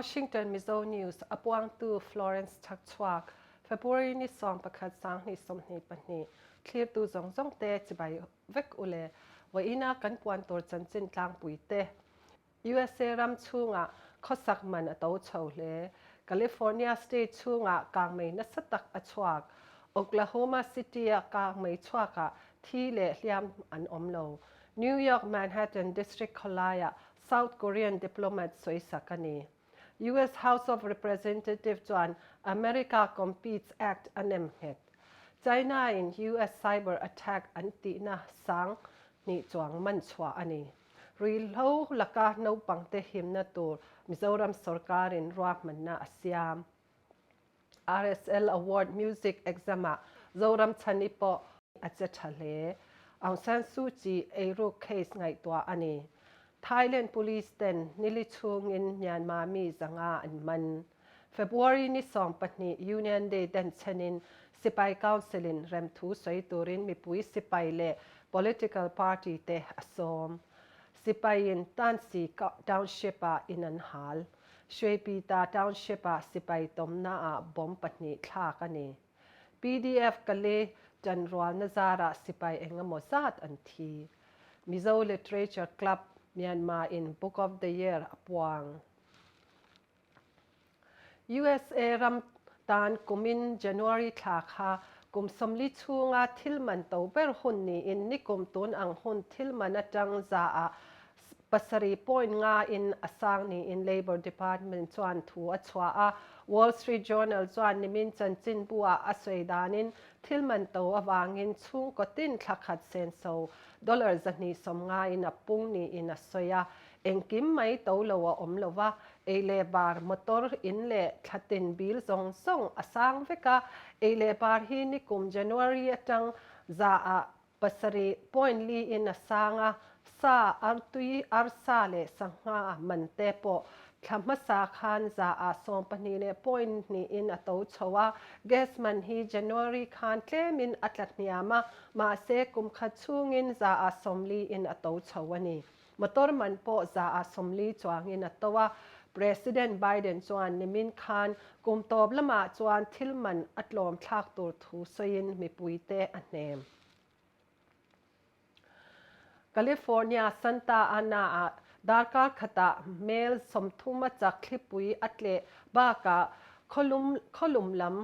Washington, Mizo News, a puangtu Florence Chak chhuak, February ni sawm pakhat sanghnih sawmhnih pahnih, thlirtu zawng zawngte chibai vek u le vawiina kan puan tur chanchin tlangpui te. Usa ram chhungah khawsak man a to chho hle. California State chhungah kang mei nasa tak a chhuak. Oklahoma City-a kang mei chhuakah thi leh hliam an awm lo. New York Manhattan District khawlaiah South Korean diplomat soisak a ni. US House of Representative chuan America Competes Act a nem nghet. China-in US cyber attack an tihna sang hnih chuang man chhuah a ni. Ruihhlo laka naupangte himna tur Mizoram sorkarin ruahmanna a siam. RSL Award Music Exam-a Zoram Chhani pawh a che tha hle. Aung San Suu Kyi eiruk case ngaihtuah a ni. Thailand Police-ten nili chhungin Myanmar mi zanga an man. February ni sawm pahnih Union Day den chhenin Sipai Council in rem thu sawi turin mipui sipai leh political party te a sawm. Sipai in Tansi Township ah in an hal. Hruaipita Township ah sipai tawmna ah bomb pahnih thlak a ni. PDF Kali tan rualna zar ah sipai engemaw zat an thi. Mizo Literature Club Myanmar in Book of the Year a puang. Usa ram tan kumin January thla kha kum sawmli chhunga thil man to ber hun niin nikum tun ang hun thil man atang za a pasarih point nga in a sang niin Labour Department chuan thu a chhuah a. Wall Street Journal chuan nimin chanchin bu ah a sawi dan in thil man to avangin chhungkaw tin thlakhat senso dollar zahnih sawm nga in a pung niin a sawi a. Engkim mai to lo a awm lova, ei leh bar, motor, in leh thla tin bil zawng zawng a sang vek a. Ei leh bar hi nikum January atang zaah pasarih point li in a sang a, sa, artui, arsa leh sangha man te pawh thla hmasa khan zaah sawm pahnih leh point hnih in a to chho a. Gas man hi January khan tlem in a tla hniam a, mahse kum khat chhung in zaah sawm li in a to chho a ni. Motor man pawh za ah sawmli chuang in a to a. President Biden chuan nimin khan kum tawp lamah chuan thil man a tlawm thlak tur thu sawi in mipui te a hnem. California Santa Ana ah darkar khat ah hmel sawmthuma chak thlipui a tleh bak ah khaw lum lam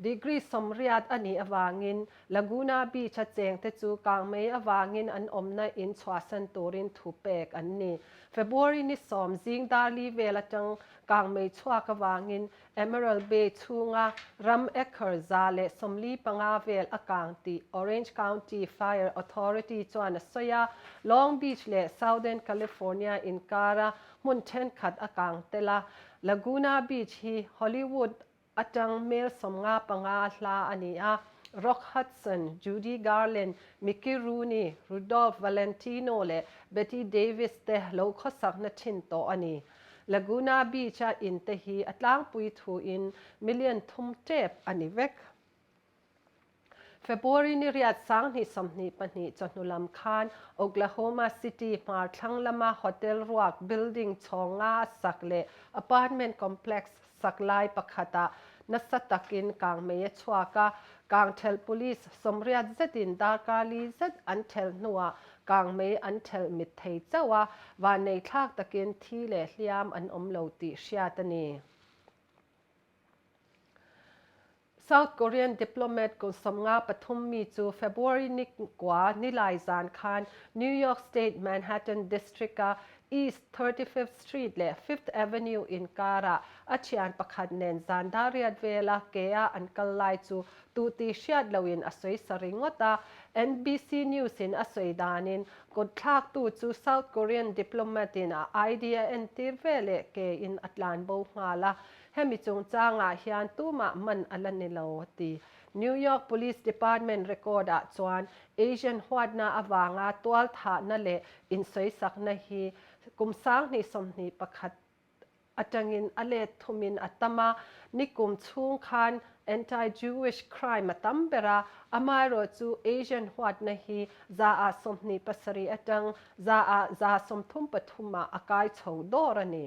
Degree sawmriat a nih avangin Laguna Beach a chengte chu kang mei avangin an awmna in chhuahsan turin thu pek an ni. February ni sawm zing darli vel atang kang mei chhuak avangin Emerald Bay chhunga ram acre za leh sawmli panga vel a kang tih Orange County Fire Authority chuan a sawi a. Long Beach leh Southern California inkara hmun thenkhat a kang tel a. Laguna Beach hi Hollywood A tang hmel sawmnga panga hla a ni a, Rock Hudson, Judy Garland, Mickey Rooney, Rudolph Valentino leh Bette Davis te lo khawsakna thin tawh a ni. Laguna Beach-a in te hi a tlangpui thuin million thum tep a ni vek. February nihriat sanghnih sawmhnih pahnih chawhnu lam khan Oklahoma City hmar thlang lama hotel ruak building chhawng nga sak leh apartment complex sak lai pakhata nasa takin kang mei a chhuak a, kang thelh police sawmriat zetin darkarli zet an thelh hnuah kang mei an thelh mit thei chauh a, vannei thlak takin thi leh hliam an awm lo tih hriat a ni. South Korean diplomat kawlsawmnga pathum mi chu February ni kua nilai zan khan New York State Manhattan District-a East Thirty Fifth Street leh Fifth Avenue inkara a thian pakhat nen zan dariat vela kea an kal lai chu tuhtih hriat loin a sawi sa ringawt a. NBC News-in a sawi danin, Kutthlaktu chu South Korean diplomat-in a ID a entir veleh kein a tlan bo nghal a. Hemi chungchangah hian tumah man a la ni lo, a ti. New York Police Department record ah chuan Asian huatna avanga tualthahna leh insawisakna hi kum sanghnih sawmhnih pakhat atangin a let thumin a tam a, nikum chhung khan anti-Jewish crime a tam ber a, amaherawh chu Asian huatna hi za ah sawmhnih pasarih atang za ah za sawmthum pathumah a kai chho dawr a ni.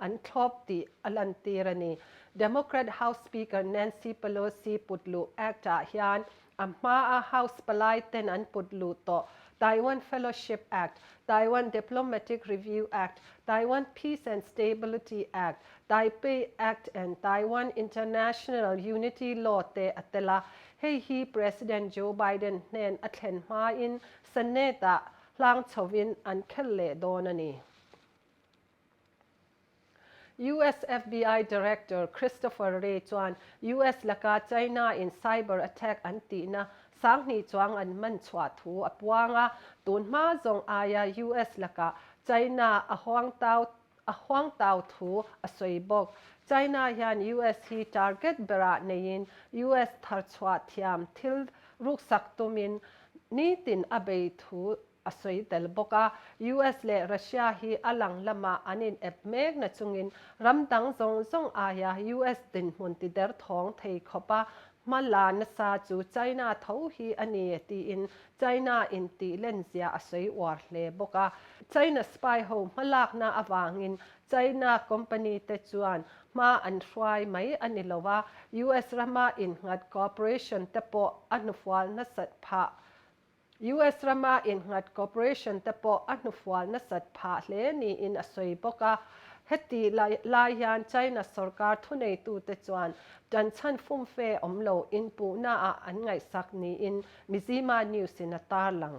an thlawp tih a lantir a ni. Democrat House Speaker Nancy Pelosi putluh act ah hian a hmaa House palai ten an putluh tawh Taiwan Fellowship Act, Taiwan Diplomatic Review Act, Taiwan Peace and Stability Act, Taipei Act and Taiwan International Unity Law te a tel a, hei hi President Joe Biden hnen a thlen hmain Senate ah hlangchhovin an khelh leh dawn a ni. US FBI Director Christopher Wray chuan US laka China-in cyber attack an tihna sanghnih chuang an man chhuah thu a puang a, tun hma zawng aia US lakah China a huangtau a huangtau thu a sawi bawk. China hian US hi target berah neiin US thar chhuah thiam thil ruksak tumin nitin a bei thu a sawi tel bawk a. US leh Russia hi a lang lamah an inep mekna chungin ram dang zawng zawng aia US dinhmun ti der thawng thei khawp a hma la nasa chu China tho hi a ni tiin China intih lenzia a sawi uar hle bawk a. China spy ho hma lakna avangin China company te chuan hma an hruai mai a ni lo a, US rama innghat cooperation te pawh a hnufual nasat phah US rama innghat cooperation te pawh a hnufual nasat phah hle niin a sawi bawk a. Heti lai hian China sorkar thuneitute chuan tanchhan fumfe awm lo inpuhna ah an ngaihsak niin Mizzima News-in a tarlang.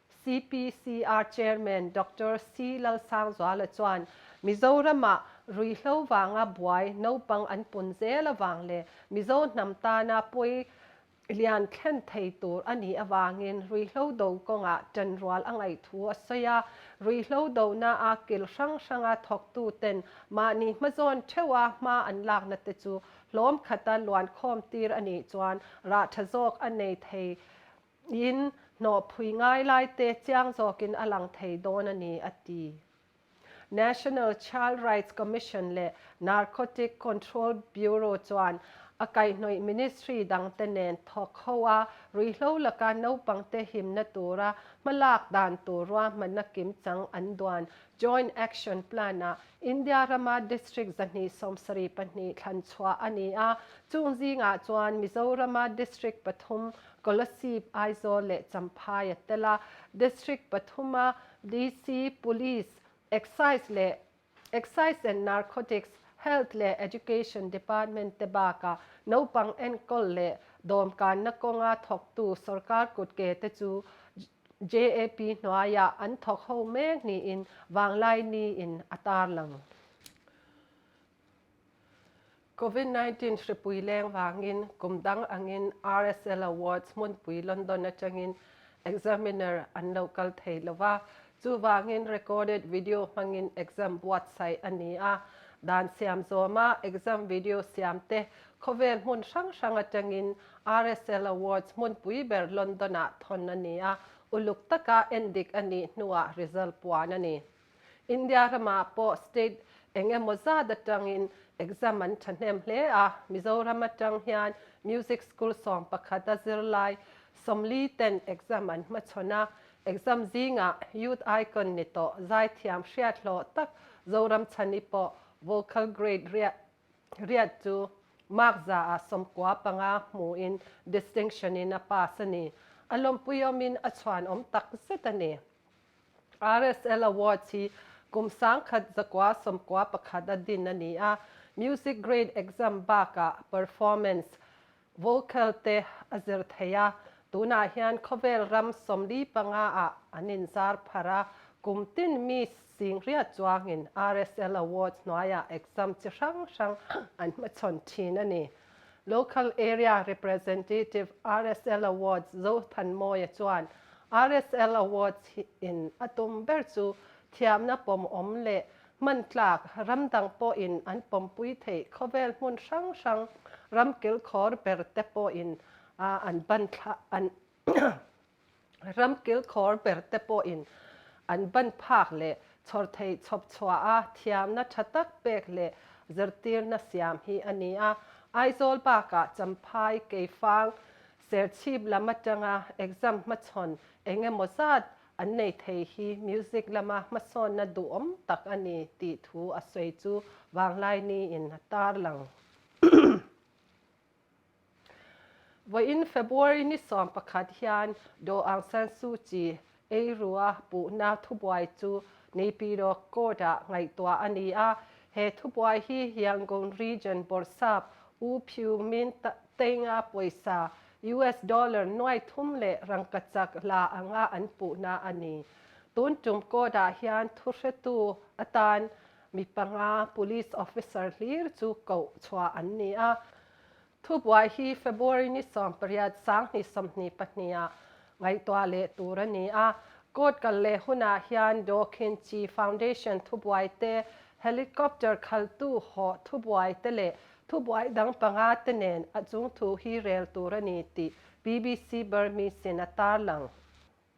CPCR Chairman Doctor C Lalsangzuala chuan Mizorama rui hlo vanga buai naupang an pun zel avang leh Mizo hnam tana pawi lian thlen thei tur a nih avangin rui hlo do kawnga ṭan rual a ngaih thu a sawi a, rui hlo dona a kil hrang hranga thawktuten mahni hmazawn ṭheua hma an lakna te chu hlawmkhata luankhawm tir a nih chuan rah ṭha zawk a nei thei In hnawhpui ngai lai te chiang zawkin a lang thei dawn a ni, a ti. National Child Rights Commission leh Narcotic Control Bureau chuan a kaihhnawih ministry dangte nen thawk ho a ruihhlo laka naupangte himna tura hmalak dan tur ruahmanna kim chang an duan Joint Action Plan ah India rama district zahnih sawm sarih pahnih thlanchhuah a ni a, chung zingah chuan Mizorama district pathum Kolasib, Aizawl leh Champhai a tel a, District pathum a DC, Police, Excise leh Excise and Narcotics, Health leh Education Department te bakah naupang enkawl leh dawmkanna kawnga thawktu sawrkar kut ke te chu JAP hnuaiah an thawk ho mek niin Vanglai Ni-in a tarlang. Covid nineteen hripui leng vangin kum dang angin RSL Awards hmunpui London atangin Examiner an lo kal thei lo va, chuvangin recorded video hmangin exam buatsaih a ni a. Dan siam zawma exam video siam te khawvel hmun hrang hrang atangin RSL Awards hmunpui ber London-ah thawn a ni a, uluk taka en dik a nih hnuah result puan a ni. India ramah pawh state eng emaw zat atangin exam an thahnem hle a. Mizoram atang hian music school sawm pakhat a zirlai Somli ten exam an hmachhawn a. Exam zingah youth icon ni tawh Zaithiam hriathlawh tak Zoramchhani pawh vocal grade riat riat chu mark zaah sawmkua panga hmuhin distinction-in a pass a ni. A lawmpuiawmin a chhuanawm takzet a ni. RSL Awards hi kum sangkhat zakua sawmkua pakhat a din a ni a, music grade exam bakah performance, vocal, te a zir thei a, tunah hian khawvel ram sawmli panga ah an in zar phar a, kum tin mi sing hriat chuangin RSL Awards hnuaiah exam chi hrang hrang an hmachhawn thin a ni. Local Area Representative, RSL Awards, Zo Than Mawia chuan RSL Awards hi in a tum ber chu thiamna pawmawm leh hman tlak ram dang pawhin an pawmpui theih khawvel hmun hrang hrang ram kilkhawr berte pawhin an ban thla an Ram kilkhawr ber te pawhin an ban phak leh chhawr thei chhawp chhuah a thiamna tha tak pek leh zirtirna siam hi a ni a. Aizawl bakah Champhai keifang serchhip lam atanga exam hmachhawn eng emaw zat an nei thei hi music lama hmasawnna duhawm tak a ni tih thu a sawi chu Vanglai Ni-in a tarlang. Vawiin February ni sawm pakhat hian Daw Aung San Suu Kyi ei rua puhna thubuai chu Naypyidaw Court ah ngaihtuah a ni a. He thubuai hi Yangon Region bawrhsap U Phu Min Tainga pawisa US dollar nuai thum leh rangkachak la anga an puhna a ni. Tun tum court ah hian thuhretu atan Mi panga police officer hlir chu koh chhuah an ni a. Thubuai hi February ni sawm pariat sang hnih sawmhnih pahniha ngaihtuah leh tur a ni a. Court kal leh hunah hian Dawkin Chi Foundation thubuai te, helicopter khaltu hawh thubuai te leh thubuai dang panga te nen a chungthu hi rel tur a ni tih bbc Burmese-in a tarlang.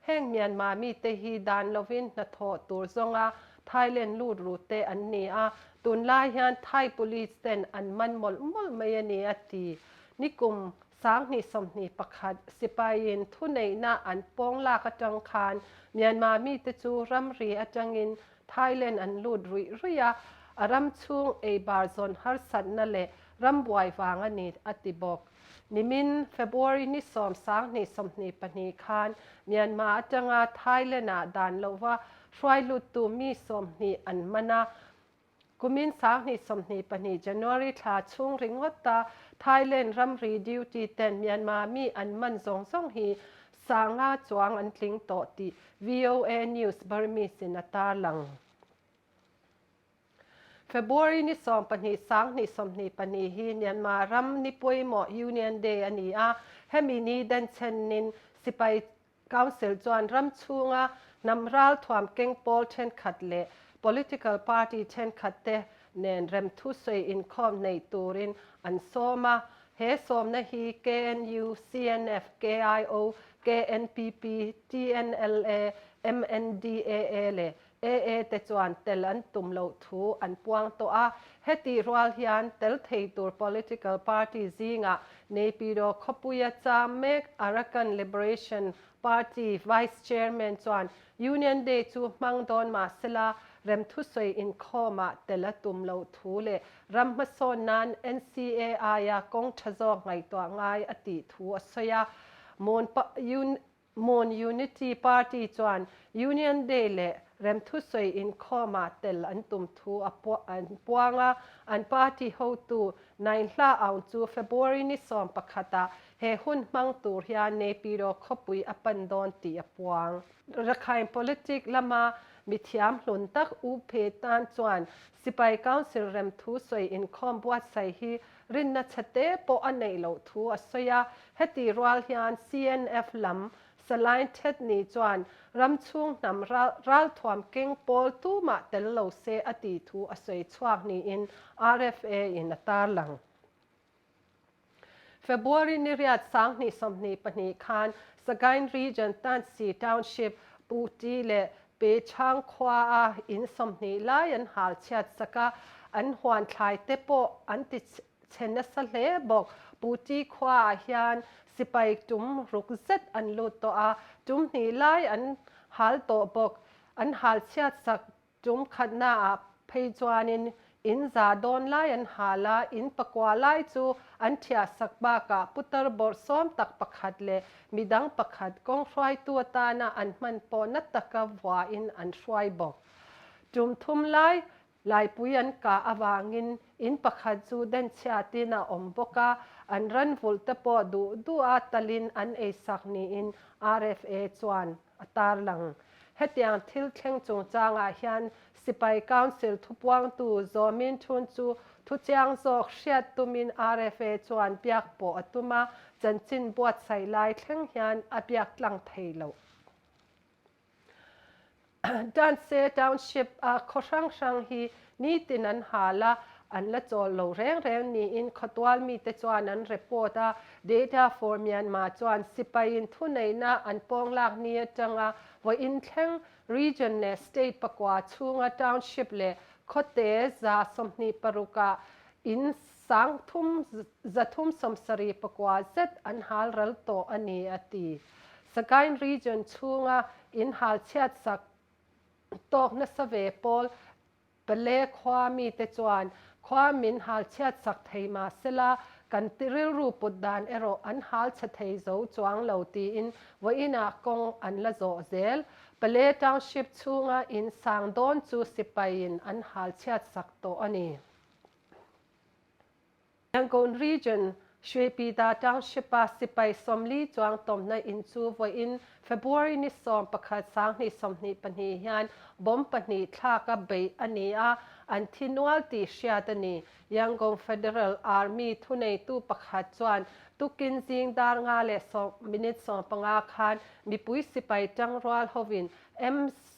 Heng Myanmar mite hi dan lovin hnathawh tur zawnga Thailand lutrute an ni a, tun lai hian Thai Police ten an man mawlh mawlh mai a ni a ti. Nikum sang hnih sawmhnih pakhat sipain thuneihna an pawng lak atang khan Myanmar mite chu ramri atangin Thailand an lut ruih ruih a, a ram chhung eibar zawn harsatna leh rambuai vang a ni a ti bawk. Nimin, February ni sawm sang hnih sawmhnih pahnih khan Myanmar atanga Thailand ah dan lova hruailuttu mi sawmhnih an man a. Kumin sang hnih sawmhnih pahnih, January thla chhung ringawta Thailand ramri duty ten Myanmar mi an man zawng zawng hi sanga chuang an tling tawh tih VOA News Burmese-in a tarlang. February ni sawm pahnih sang hnih sawmhnih pahnih hi Myanmar ram ni pawimawh Union Day a ni a, hemi ni den chhenin Sipai Council chuan ram chhunga hnam ralthuam keng pawl thenkhat leh political party thenkhat te nen remthu sawi inkhawm hneih turin an sawm a, he sawmna hi KNU, CNF, KIO, KNPP, TNLA, MNDAA leh AA te chuan tel an tum loh thu an puang tawh a, heti rual hian tel thei tur political party zingah Naypyidaw khawpuia cham mek Arakan Liberation Party vice chairman chuan Union Day chu hmang dawn mah se la rem thusawi inkhawmah tel a tum loh thu leh ram hmasawn nan NCA aia kawng tha zawk ngaihtuah ngai a tih thu a sawi a. Moon Mon Unity Party chuan Union Day leh remthusawi inkhawmah tel an tum thu a puang a, an party hotu Nain Hla Aung chu February ni sawm pakhatah he hun hmang tur hian Naypyidaw khawpui a pan dawn tih a puang. Rakhine politic lama mi thiamhlun tak U Phe tan chuan Sipai Council remthusawi inkhawm buatsaih hi Rinna chhe te pawh a neih loh thu a sawi a. Heti rual hian CNF lam Salai Ted ni chuan ram chhung hnam ralthuam keng pawl tumah tel lo se a ti thu a sawi chhuak niin RFA in a tar lang. February niriat sang hnih sawmhnih pahnih khan Sagaing Region Tansi Township Pu Ti leh Pechhang khuaa in sawmhnih lai an hal chhiat sak a, an huanthlai te pawh an ti chhe nasa hle bawk. Pu Ti khuaa hian sipai tum ruk zet an lut tawh a, tum hnih lai an hal tawh bawk. An hal chhiat sak tum khatnaah phei chuanin In zah dawn lai an hal a, in pakua lai chu an thiahsak bakah putar bawrh sawm tak pakhat leh mi dang pakhat kawng hruaitu atana an hman pawh na taka vuain an hruai bawk. Tum thum lai, Laipui an kah avangin in pakhat chu den chhiatin a awm bawk a, an ranvulh te pawh duh duh a talin an ei sak niin RFA chuan a tarlang. Hetiang thil thleng chungchangah hian Sipai Council thupuangtu Zaw Min Thun chu thuchiang zawk hriat tumin rfa chuan biak pawh a tum a, chanchin buatsaih lai thleng hian a biak tlang thei lo. Danse Township a khaw hrang hrang hi Nitin an hal a, an la chawl lo reng reng niin khawtual mite chuan an report a, Data for Myanmar chuan sipaiin thuneihna an pawng lak ni atanga vawiin thleng region leh state pakua chhunga township leh khawte za sawmhnih paruka in sang thum za thum sawmsarih pakua zet an hal ral tawh a ni a ti. Sagaing region chhunga in halchhiatsak Tawk nasa ve Paul. Pale khua mite chuan khua min hal chhiat sak thei mah sela kan ti rilru put dan erawh an hal chhe thei zo chuang lo tiin vawiinah kawng an la zawh zel. Pale Township chhunga in sang dawn chu sipai in an hal chhiat sak tawh a ni. Yangon Region, Shuipida Township-a Sipai Sawmli Chuang Tawmhna In chu vawiin February ni sawm pakhat sanghnih sawmhnih pahnih hian bomb pahnih thlak a beih a ni a, an thi nual tih hriat a ni. Yangon Federal Army thuneitu pakhat chuan tukin zingdar nga leh sawm minute sawmpanga khan mipui sipai tang rual hovin M.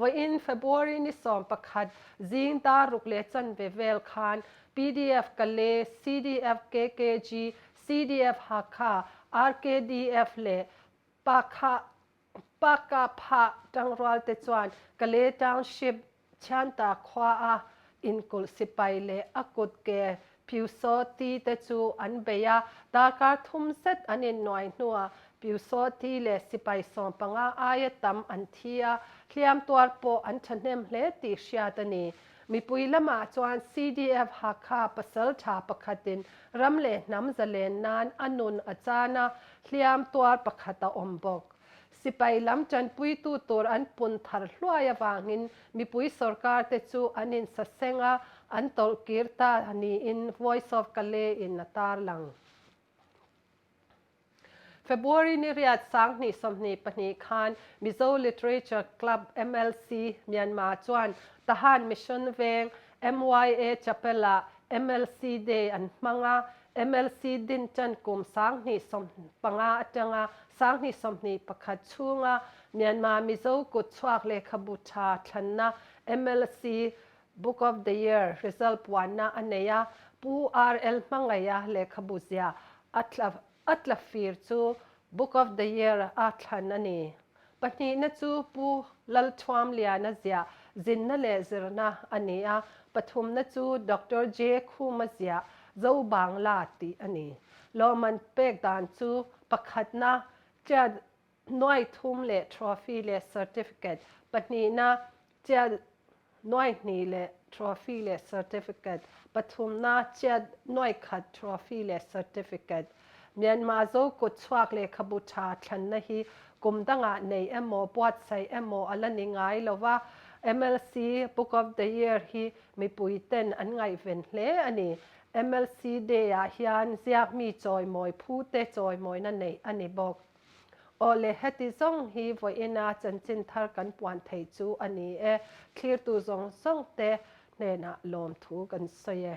Vawiin February ni sawm pakhat zingdar ruk leh chanve vel khan PDF Kale, CDF KKG, CDF Hakha, RKDF leh Pakha, Pakha Phah tangrualte chuan Kale Township Thianta khua a inkulh sipai leh a kut ke Pyusawti te chu an bei a, darkar thum zet an innuai hnuah Pyusawti leh sipai sawm panga aia tam an thi a, hliam tuar pawh an thahnem hle tih hriat a ni. Mipui lamah chuan CDF Hakha pasal tha pakhatin ram leh hnam za len nan a nun a chan a, hliam tuar pakhat a awm bawk. Sipai lam tanpuitu tur an pun thar hluai avangin mipui sorkar te chu an insaseng a, an tawlh kir ta niin Voice of Kalay in a tarlang. February nihriat sang hnih sawmhnih pahnih khan Mizo Literature Club, MLC, Myanmar chuan Tahan Mission veng MYA Chapel ah MLC Day an hmang a, MLC din ṭan kum sanghnih sawmhnih panga aṭanga sanghnih sawmhnih pakhat chhunga Myanmar Mizo kut chhuak lehkhabu ṭha thlanna, MLC Book of the Year, result puanna a nei a. Pu RL hmangaia lehkhabu zia a tla fir chu Book of the Year a thlan a ni. Pahnihna chu Pu Lalthuamliana zia zinna leh zirna a ni a, pathumna chu Doctor J. Khuma zia Zobangla tih a ni. Lawmman pek dan chu pakhatna Tia Nuaithum leh Trophy leh Certificate, pahnihna Chiat nuaihni leh trophy leh certificate, Pathumna chiat nuaihkhat trophy leh certificate, Myanmar zo kut chhuak lehkhabu tha thlanna hi kum dangah nei emaw, buatsaih emaw a la ni ngai lo va, MLC Book of the Year hi mipuiten an ngaihven hle a ni. MLC Day-ah hian ziakmi chawimawi phute chawimawina neih a ni bawk. Aw le, heti zawng hi vawiina chanchin thar kan puan thei chu a ni e, thlirtu zawng zawngte hnenah lawmthu kan sawi e.